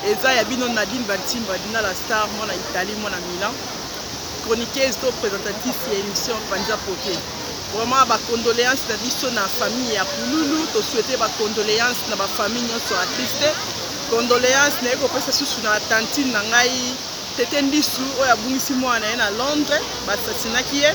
Eza ya bino Nadine Bantimba Dina la star mwana Italie mwana Milan chroniqueuse to présentatrice ya émission Panza Pote vraiment ba condoléances na biso na famille ya Pululu to souhaiter ba condoléances na ba famille nyonso attriste condoléances na ye kopesa susu na tantine na ngai Tete Ndisu oyo abungisi mwana na ye na Londres, ba assassinaki ye.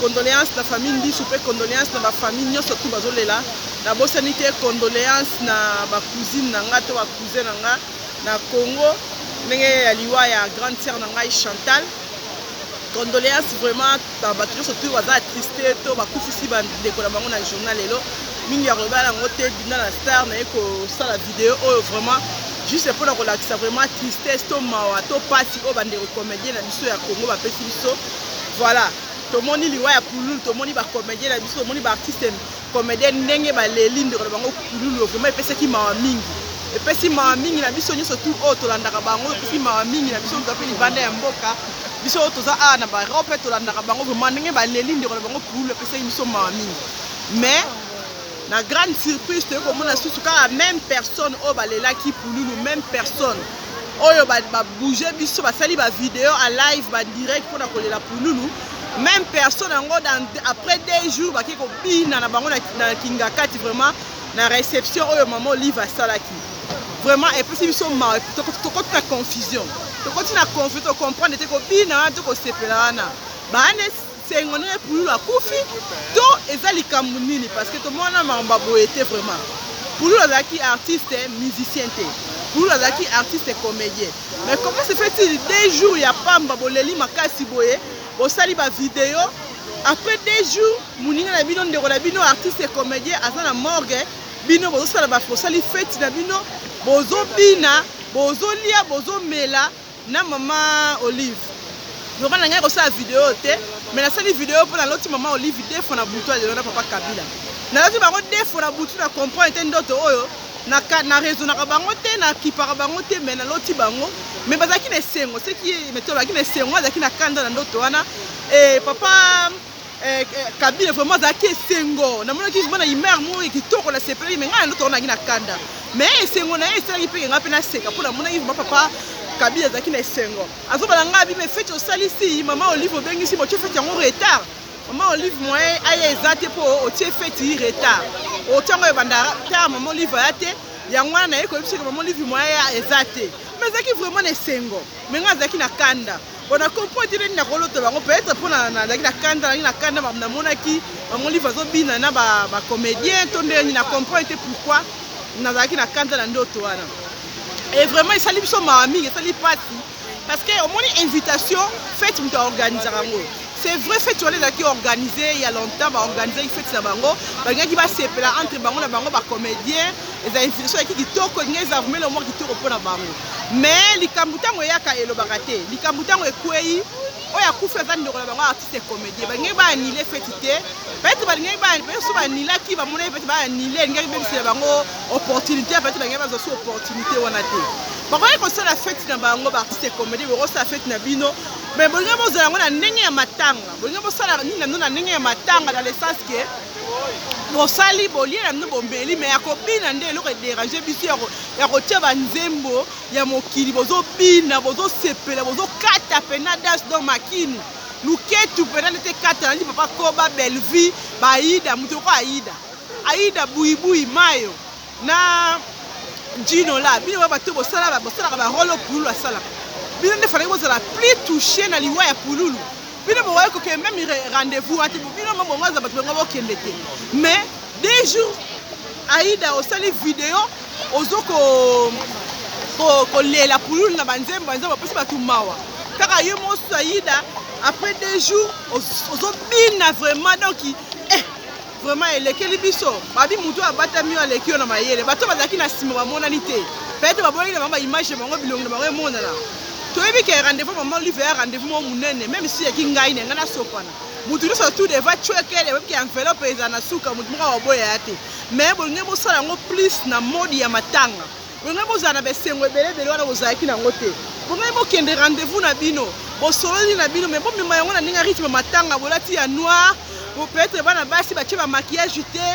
Condoleances na famille Ndisu pe condoleances na ba famille nyoso tout bazolela. Nabosani te condoleances na ba cousine na nga to ba cousin na nga na Congo ndenge ya liwa ya grande sœur na ngai Chantal. Condoleances vraiment bato nyonso tu baza atriste to bakufisi bandeko na bango na journal lelo mingi ya kolobala yango te bina na star naye kosala video oyo vraiment juste mpona kolakisa vraiment tristesse to mawa to mpasi oyo bandeko comédien na biso ya congo bapesi biso voilà tomoni liwa ya pululu tomoni bacomédien na biso tomoni baartiste comedien ndenge baleli ndeko na bango kululu vraiment epesaki mawa mingi epesi mawa mingi na biso nyonso tu oyo tolandaka bango epesi mawa mingi na biso toza mpe libanda ya mboka biso oyo toza awa na baeurope tolandaka bango vraiment ndenge baleli ndeko na bango kululu epesaki biso mawa mingi mais na grande surprise toyei komona susu kaka même personne oyo balelaki pululu même personne oyo babouge biso basali bavideo a live badirect mpona kolela pululu meme personne yango après deux jours bake kobina na bango na kingakati vraiment na réception oyo mama olive asalaki vraiment epesi biso mawa tokoti na confusion tokoti na confusion tocomprendre te kobina wana to kosepela wana baana esengo ndenge pululu akufi to eza likambo nini parce que tomona makambo ya boye te vraiment pululu azalaki artiste musicien te pululu azalaki artiste comédien Mais comment se fait-il deux jours ya pamba boleli makasi boye bosali ba video après deux jours moninga na bino ndeko na bino artiste comédien aza na morgue bino bozosala bosali feti na bino bozobina bozolia bozomela na mama olive loba na ngai kosala video te mais nasali video mpo naloti mama olive defo na butu ya lelo na papa kabila naloti bango defo na butu na comprendre te ndoto oyo na, na raisonnaka bango te na kipaka bango te mais naloti bango mais bazalaki na esengo seki meto bazalaki na esengo azalaki na kanda na ndoto wana e papa eh, eh, kabila vraiment azalaki esengo namonaki vraimen na imere moko ya kitoko na sepelaki me ngai na ndoto wana naki na kanda mais esengo na ye esalaki mpe kenga mpe naseka mpo namonaki vraimen papa kabila azalaki na esengo azobala ngai abi me feti osalisi mama olive obengisi botie feti yango retard Maman Olive moyen aya eza te po otie feti retard. Otango ebanda ta maman Olive aya te. Yango wana naye koyebisa maman Olive moyen aya eza te. Mais ezaki vraiment na esengo. Mais nga azaki na kanda. Bon na comprendre te nani na koloto bango peut-être po na nazaki na kanda, nazaki na kanda maman namonaki maman Olive azobina na ba ba comédiens to nde na comprendre te pourquoi nazalaki na kanda na ndoto wana. Et vraiment esali biso mawa mingi, esali pasi. Parce que omoni invitation fete moto aorganisaka yango c'est vrai fete wana ezalaki organise ya longtemps baorganisaki fete na bango balingaki basepela entre bango na bango bacomédien eza invitation yaki kitoko elingi eza vumela omwa kitoko mpo na bango mais likambo ntango eyaka elobaka te likambo ntango ekwei oyo akufi aza ndeko na bango te comédien balingaki ba annule feti te peut-être balingaki biso banilaki bamonaki peut-être ba annule elingaki bebisela bango opportunité peut-être balingaki bazwa su opportunité wana te bakoki kosala feti na bango baartiste comédie bokosala feti na bino mais bolingi bozala yango na ndenge ya matanga bolingi bosala nini na bino na ndenge ya matanga dans le sens que bosali bolie na bino bomeli me ya kobina nde eloko ederange biso ya kotia banzembo ya mokili bozobina bozosepela bozokata pena das don makini Luketu pena nde te kata nandi papa koba Bellevue ba Aida mutu lokola Aida Aida buyi buyi mayo na Gino la bino ba bato bosala bosalaka ba rolo pululu asalaka bino nde fallaki bozala plus touche na liwa ya pululu bino bokoki kokende meme rendez-vous wana te bino moko bongo aza bato bango bokende te mais deux jours Aida osali video ozo ko kolela pululu na banzembo ya nzambe apesi bato mawa kaka yo mosusu ayida après deux jours ozobina vraiment donc eh, vraiment elekeli biso babi motu oyo abatami oyo aleki yo na mayele bato bazalaki na nsima bamonani te peut-être baboyaki na bango baimage ya bango bilongi na bango emonana toyebi ke rendez-vous mama olive ya rendez-vous mo monene meme si yaki ngai na ngai nasopana motu nyonso tout deva cwekele oyebi ke enveloppe ezala na suka motu moko awaboya ya te mais bolingi bosala yango plus na mode ya matanga bolingi bozala na besengo ebele ebele wana bozalaki na yango te bolingi bokende rendez-vous na bino bosololi na bino mais bomema yango na ndenge ya rythme matanga bolati ya noir peut-être bana basi batie ba maquillage te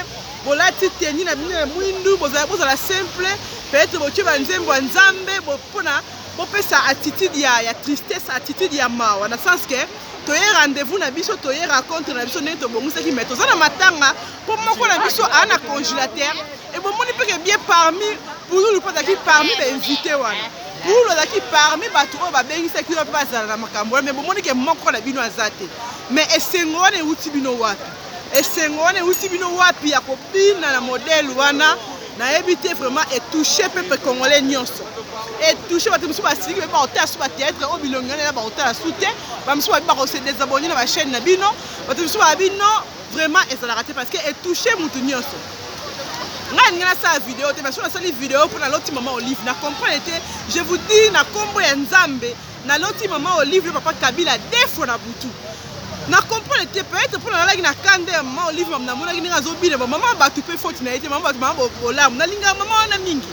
bolati teni na bino ya mwindu bozala bozala simple peut-être botie banzembo ya nzambe mpona bopesa attitude ya, ya tristesse attitude ya mawa na sens ke toye rendez-vous na biso toye racontre na biso ndenge tobongisaki mai toza na matanga mpo moko na biso aa na congulateur ebomoni mpe kebie parmi pululu mpe azalaki parmi bainvite wana pululu azalaki parmi bato oyo babengisaki yo mpe bazala na makambo wana me bomoni ke moko na bino aza te me esengo wana euti bino wapi esengo wana euti bino wapi ya kobina na modele wana nayebi te vraiment etouche peuple congolais nyonso etouche bato mosusu basiliki bayebi bakotala su bateatre oyo bilongi wana eza bakotala su te bamosusu bayebi bakose desabonne na bachaine na bino bato mosusu bayebi non Vraiment ezalaka te parce que e touche mutu nyonso. Ngai ninga nasala video te parce que nasali video mpo naloti mama Olive na comprendre te je vous dis na kombo ya Nzambe naloti mama Olive yo papa Kabila deux fois na butu na comprendre te peut-être mpo nalalaki na kanda ya mama Olive mama namonaki ndenge azobina ba mama bato mpe faute na ye te mama bato mama bolamu nalingaka mama wana mingi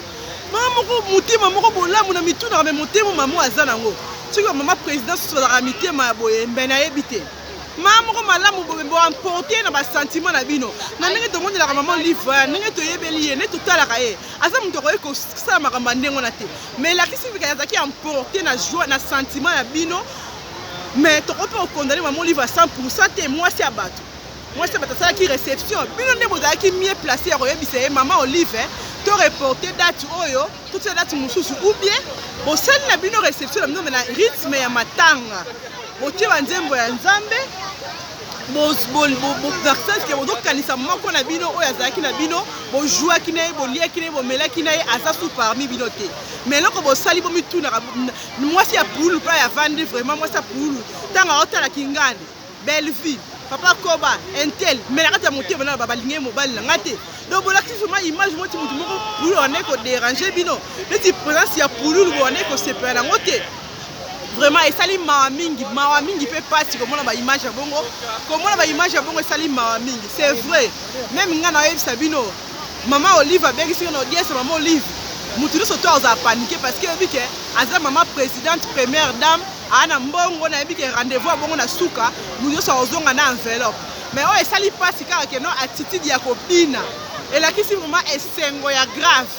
mama moko motema moko bolamu na mitunaka me motema mama aza nango soki bamama président soki bazalaka mitema ya boye mbe nayebi te mama moko malamu boemporte na basentiment na bino na ndenge tomondelaka mama olive eh, ndenge toyebeli ye nde totalaka ye aza moto akoki kosala makambo ya ndenge wana te mais elakisi mpe azalaki emporte na joi na sentiment ya bino mais tokoki mpe kokondane mama olive ya 100 pourcent te mwasi ya bato mwasi ya bato asalaki réception bino nde bozalaki mieux place ya koyebisa ye mama olive eh, to reporte date oyo totia date mosusu ou bien bosali na bino réception na bino me na rythme ya matanga botie banzembo ya nzambe boverse ke bozokanisa moko na bino oyo azalaki na bino bojwaki na ye boliaki na ye bomelaki na ye aza su parmi bino te ma eloko bosali bomitunaka mwasi ya pulu mpe ya vandi vraiment mwasi ya pulu ntango aotala kingani belleville papa koba intel me na kati ya motema na babalingi ye mobali na ngai te donc bolakisi vraiment image moti motu moko pulu wana ekoderange bino neti présence ya pululu wana ekosepela yango te Vraiment esali mawa mingi, mawa mingi pe pasi komona ba image ya bongo. Komona ba image ya bongo esali mawa mingi. C'est vrai. Même nga na yebisa bino mama Olive abengisi na audience mama Olive. Mutu nyonso to aza paniquer parce que yebi ke aza mama presidente première dame ana mbongo na yebi ke rendez-vous ya bongo na suka mutu nyonso akozonga na enveloppe. Mais oyo esali pasi kaka ke no attitude ya kobina. Elakisi vraiment esengo ya grave.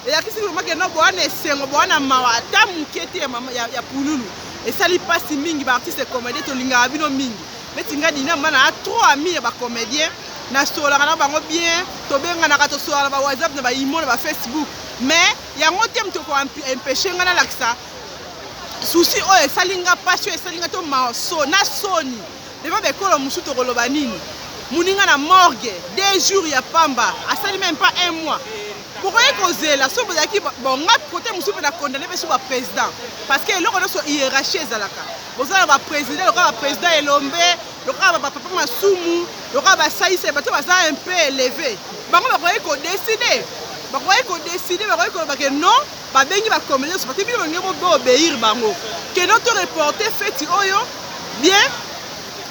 elakisi vraimen ke no bowana esengo bowana mawa ata moke te ya, mama, ya, ya pululu esali mpasi mingi baartiste comédien tolingaka bino mingi neti ngai dina mama naa trop ami ya bacomédien nasololaka na bango bien tobenganaka tosolaka na bawhatsapp na baimo na bafacebook mais yango te moto ekoempeshe ngai nalakisa susi oyo esali ngai mpasi oyo esali ngai to mawa so na soni dema bekolo mosusu tokoloba nini moninga na morgue deux jours ya pamba asali meme pas un mois bokoki kozela soki bozalaki bon nga kote mosusu mpe na condamne mpe so baprésident parce que eloko nyonso hiérarchie ezalaka boza na baprésident lokola baprésident elombe lokola bapapa masumu lokola basaise bato baza un peu éleve bango bakoki kodeside bakoki kodeside bakoki koloba ke non babengi bakomeli nyonso bate bino balingi bobeir bango keno to reporte feti oyo bien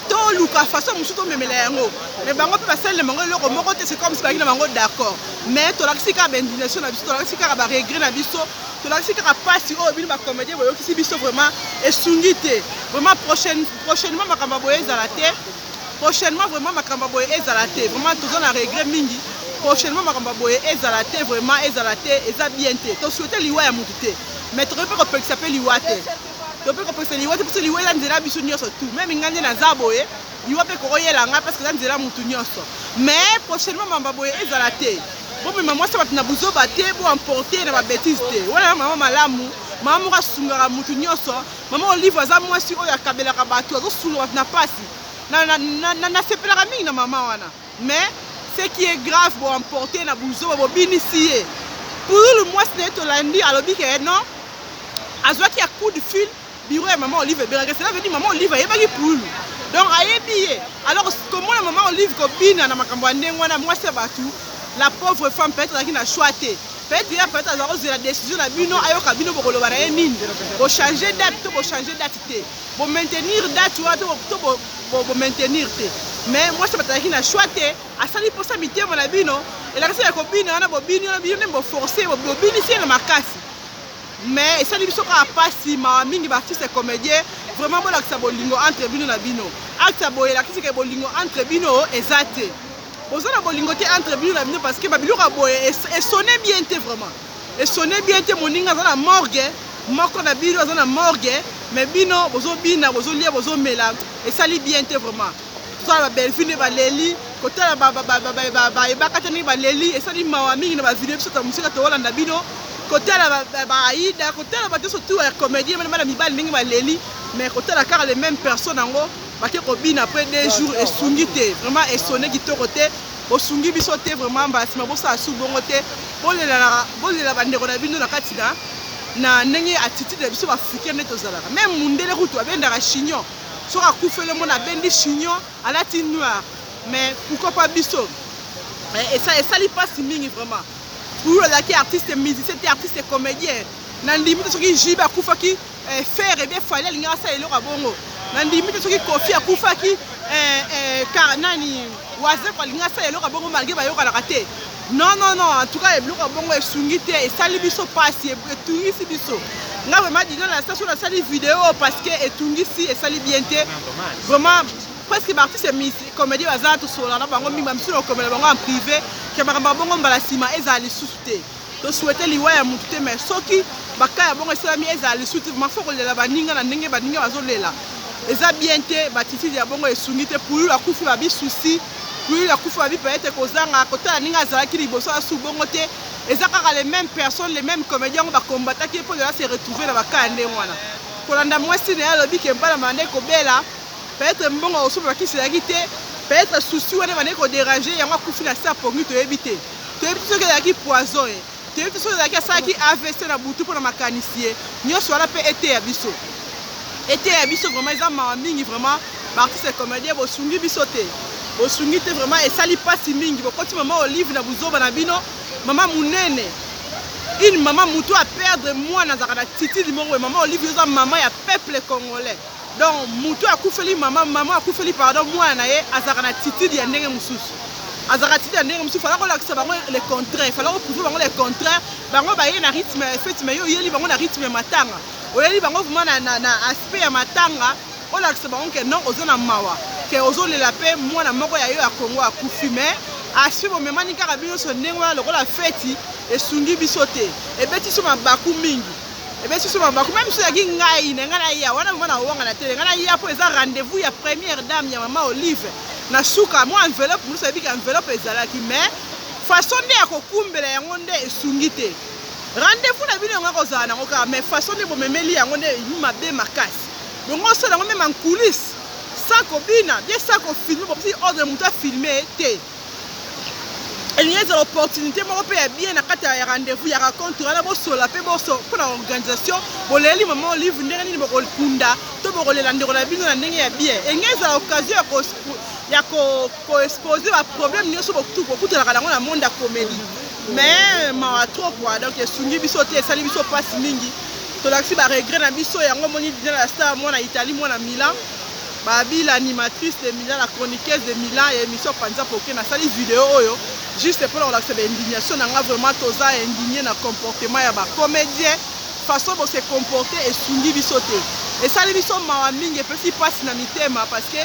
toluka façon mosusu tomemela yango mais bango mpe basali na bango eloko moko te c'est comme si balingi na bango d'accord mais tolakisi kaka baindignation na biso tolakisi kaka baregret na biso tolakisi kaka mpasi oyo bino bacomédien boyokisi biso vraiment esungi te vraiment prochainement makambo ya boye ezala te prochainement vraiment makambo ya boye ezala te vraiment toza na regret mingi prochainement makambo ya boye ezala te vraiment ezala te eza bien te tosouhaite liwa ya motu te mais tokoki mpe kopekisa mpe liwa te to mpe kopekisa liwa te mposo liwa eza nzela biso nyonso tu meme ngai nde naza boye liwa mpe kooyela ngai parceke eza nzela motu nyonso mais prochainement mamba boye ezala te bomema mwasi bato na buzoba te boemporte na babetise te wana ya mama malamu mama moko asungaka motu nyonso mama olive aza mwasi oyo akabelaka bato azosunga bato na mpasi nasepelaka mingi na mama wana Mais ce qui est grave bo emporter na buzoba bo binisi ye. Pululu mwasi na ye tolandi alobi ke non azwaki ya coup de fil bureau ya maman Olive ebengaki cela veut dire maman Olive ayebaki pululu donc ayebi ye alors komona maman Olive kobina na makambo ya ndenge wana mwasi ya bato la pauvre femme peut-être azalaki na choix te peut-être ye peut-être azalaki kozela décision na bino ayoka bino bokoloba na ye nini bochange date to bochange date te Bo maintenir date wana to bo, bo, bo maintenir te. Mais mwasi abatalaki na choix te, asali posa mitema na bino, elakisi ya kobina wana bobini wana bino nde bo forcer, bobini tie na makasi. Mais esali biso kaka pasi mawa mingi ba artistes comédiens, vraiment bolakisa bolingo entre bino na bino. Acte ya boye elakisi ke bolingo entre bino eza te. Boza na bolingo te entre bino na bino parce que ba biloko ya boye esone bien te vraiment. E sonne bien te moninga aza na morgue moko na bino aza na morgue mais bino bozo bina bozo lia bozo mela esali bien te vraiment totala ba Bellevue nde baleli kotala ba ba ba ba ba ebaka te nde baleli esali mawa mingi na ba video biso ta musika to holanda bino kotala ba ba Aida kotala ba toso tout ya comédie bana bana mibali ndenge baleli mais kotala kaka les mêmes personnes yango bake kobina après deux jours esungi te vraiment esone kitoko te Bosungi biso te vraiment mbala sima bosala su bongo te bolela bolela bandeko na bino na kati na na ndenge attitude na biso baafricain nde tozalaka meme mundele kutu abendaka chignon soki akufele mona abendi chignon alati noir mais pourquoi pas biso eh, esa esali mpasi mingi vraiment puyulu azalaki artiste musicien te artiste comédien na ndimi te soki jibe akufaki eh, ferre bien fali alingi asala eloko ya bongo na ndimi te soki kofi akufaki eh, eh, ka nani wazeko alingi asala eloko ya bongo malgre bayokanaka te non non non en tout cas eloko ya bongo esungi te esali biso mpasi etungisi biso nga vraiment dina na station nasali video parce que etungisi esali bien te vraiment presque baartiste comédie baza tosololaka na bango mingi bamisusu nakomela bango en privé ke makambo ya bongo mbala nsima ezala lisusu te To souhaite liwa ya mutu te mais soki ba cas ya bongo esalami ezala lisusu te vraiment faut kolela baninga na ndenge baninga bazolela eza bien te batitide ya bongo esungi te puyulu akufi babi susi puyulu akufi babi peut-être kozanga kotala ndenge azalaki liboso asu bongo te eza kaka les mêmes personnes les mêmes comédiens yango bakombataki ye mpo lela se retrouver na bakaa ya ndenge wana kolanda mwasi na ye alobi ke mbala manda ekobela peut-être mbongo akosuba bakisi ezalaki te peut-être susi wana ebandaki koderange yango akufi na se apongi toyebi te toyebi te soki ezalaki poison ye toyebi te soki ezalaki asalaki avc na butu mpo na makanisi ye nyonso wana mpe eteya biso eteya biso vraiment eza mawa mingi vraiment baartiste comédien bosungi biso te bosungi te vraiment esali mpasi mingi bokoti mama olive na buzoba na bino mama monene une mama motu aperdre mwana azalaka na titidi moko boye mama olive oza mama ya peuple congolais Donc mutu oyo akufeli mama mama akufeli pardon mwana na ye azalaka na attitude ya ndenge mosusu azalaka attitude ya ndenge mosusu fala kolakisa bango le contraire fala koprouve bango le contraire bango baye na rythme ya fete mais yo oyeli bango na rythme ya matanga oyeli bango vraimen na, na, na aspect ya matanga olakisa bango ke non oza na mawa ke ozolela mpe mwana moko ya yo ya kongo akufi mais aspect bomemani kaka bino nyonso ndenge wana lokola feti esungi biso te ebeti so mabaku mingi ebe susu mabaku meme so yaki ngai na ngai naya wana mama na wanga na tele ngai naya mpo eza rendez-vous ya première dame ya mama olive na suka mwa enveloppe mosusu ayebiki enveloppe ezalaki mais façon nde ya kokumbela yango nde esungi te rendez-vous na bino yango akozala nango kaka mais façon nde bomemeli yango nde mabe makasi bongo osala yango meme en coulisse sa kobina bie sa kofilme bopesi ordre moto afilme te elingi ezala opportunité moko mpe ya bien na kati ya rendez-vous ya racontre wana bosola mpe boso mpo na organisation boleleli mama olive ndenge nini bokokunda to bokolela ndeko na bino na ndenge ya bien elingi ezala occasion ya ko ya koexpose baproblème nyonso bokutanaka nango na monde ya comédie mais mawa trop kua donc esungi biso te esali biso mpasi mingi tolakisi baregret na biso yango omoni dina la star mwana italie mwana milan Baby l'animatrice de Mila, la chroniqueuse de Mila ya emission Panza Poke, nasali video oyo juste pona kolakisa ba indignation na nga vraiment toza indigné na comportement ya ba comédien façon bo se comporter esungi biso te esali biso mawa mingi epesi pasi na mitema parce que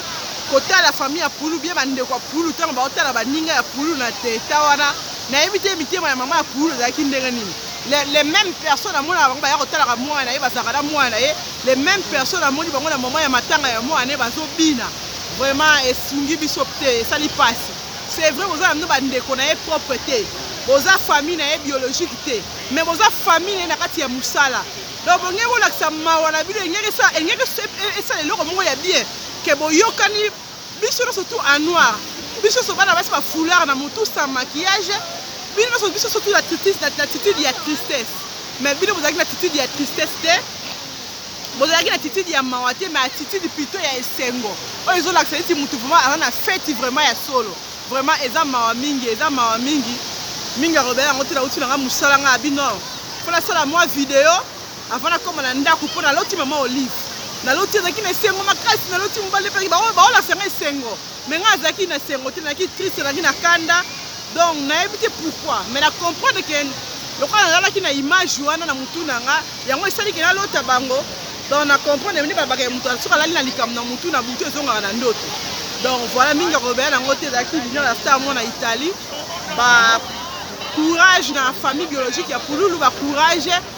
kotala famille ya pulu bie bandeko ya pulu ntango baotala baninga ya pulu na teta wana nayebi te mitema ya mama ya pulu ezalaki ndenge nini les mêmes personnes amonaka bango baya kotalaka mwana na ye bazalaka na mwana na ye Les memes personnes na moni bango na moment ya matanga ya mwana ne bazo bina vraiment esungi biso te esali pasi c'est vrai boza na bino ba ndeko na ye propre te boza famille na ye biologique te mais boza famille na ye na kati ya musala donc bongeki bolakisa mawa na bino engeki esala eloko moko ya bien ke boyokani biso nioso tout en noir biso nioso bana basi ba foulard na mutu sans maquillage bino nioso biso nioso tout na attitude ya tristesse mais bino bozalaki na attitude ya tristesse te bozalaki na attitude ya mawa te mais attitude plutôt ya esengo oyo ezolakisa neti mutu vraiment aza na feti vraiment ya solo vraiment eza mawa mingi eza mawa mingi mingi akobela yango te nauti na ngai mosala ngai abi non mpo nasala mwa video Avant na koma na ndaku po na loti maman Olive. Na loti azaki na esengo makasi na loti mobali pe ba ba ola sanga esengo. Mais nga azaki na sengo te na ki triste na ki na kanda. Donc na yebi te pourquoi. Mais na comprendre que lokola nalalaki na image wana na mutu na nga yango esali ke nalota bango donc na comprendre nde babaka ya moto soki alali na likambo na motu na butu ezongaka na ndoto donc voilà mingi ya koloba ya nango te ezalaki union ya star mo na italie ba courage na famille biologique ya pululu ba courage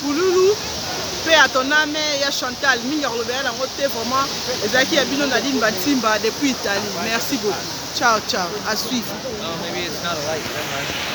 Pululu paix à ton ame ya Chantal mingi ya kolobela nango te vraiment ezalaki ya bino na ligne batimba depuis Italie merci beaucoup ciao ciao à suivre